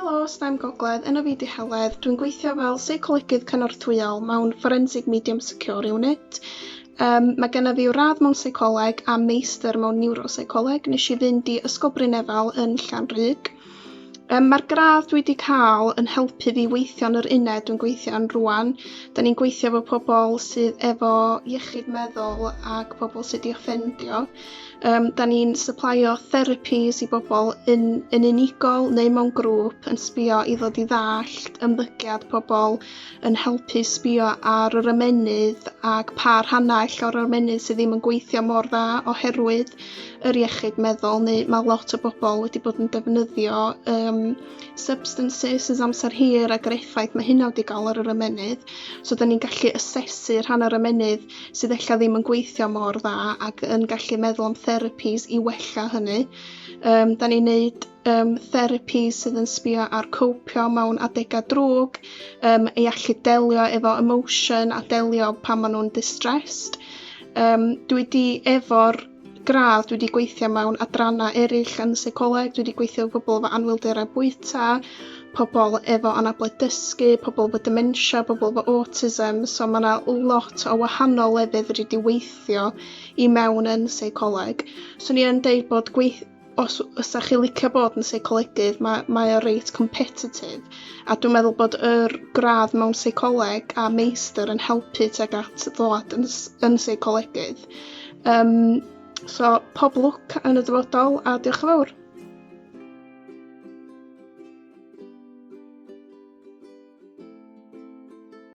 Helo, STEM Gogledd, enw fi di Heledd. Dwi'n gweithio fel seicolygydd cynorthwyol mewn Forensic Medium Secure Unit. Um, mae gennyf fi radd mewn seicoleg a meistr mewn niwroseicoleg. Nes i fynd i Ysgol Brynefal yn Llanrug. Yym mae'r gradd dwi 'di cael yn helpu fi weithio yn yr uned dwi'n gweithio yn rwan. Da ni'n gweithio efo pobl sydd efo iechyd meddwl ac pobl sydd wedi offendio. Yym da ni'n syplaio therapies i bobl yn yn unigol neu mewn grŵp yn sbio i ddod i ddallt ymddygiad pobl, yn helpu sbio ar yr ymennydd ac pa rhannau ella o'r ymennydd sydd ddim yn gweithio mor dda oherwydd yr iechyd meddwl neu mae lot o bobl wedi bod yn defnyddio um, substances ys amser hir ac yr effaith mae hynna wedi gael ar yr ymenydd. So da ni'n gallu asesu rhan o'r ymenydd sydd eich ddim yn gweithio mor dda ac yn gallu meddwl am therapies i wella hynny. Um, da ni'n neud um, therapi sydd yn sbio ar copio mewn adegau drwg, um, i allu delio efo emotion a delio pan maen nhw'n distressed. Um, dwi wedi efo'r gradd, dwi wedi gweithio mewn adrannau eraill yn y seicoleg, dwi wedi gweithio efo pobl efo anwylderau bwyta, pobl efo anabledd dysgu, pobl efo dementia, pobl efo autism, so mae yna lot o wahanol lefydd wedi wedi weithio i mewn yn seicoleg. So ni yn deud bod gweith os ysach chi licio bod yn seicolegydd, mae, mae o reit competitive. A dwi'n meddwl bod yr gradd mewn seicoleg a meistr yn helpu teg at ddod yn, yn seicolegydd. Um, so, pob lwc yn y dyfodol a diolch yn fawr.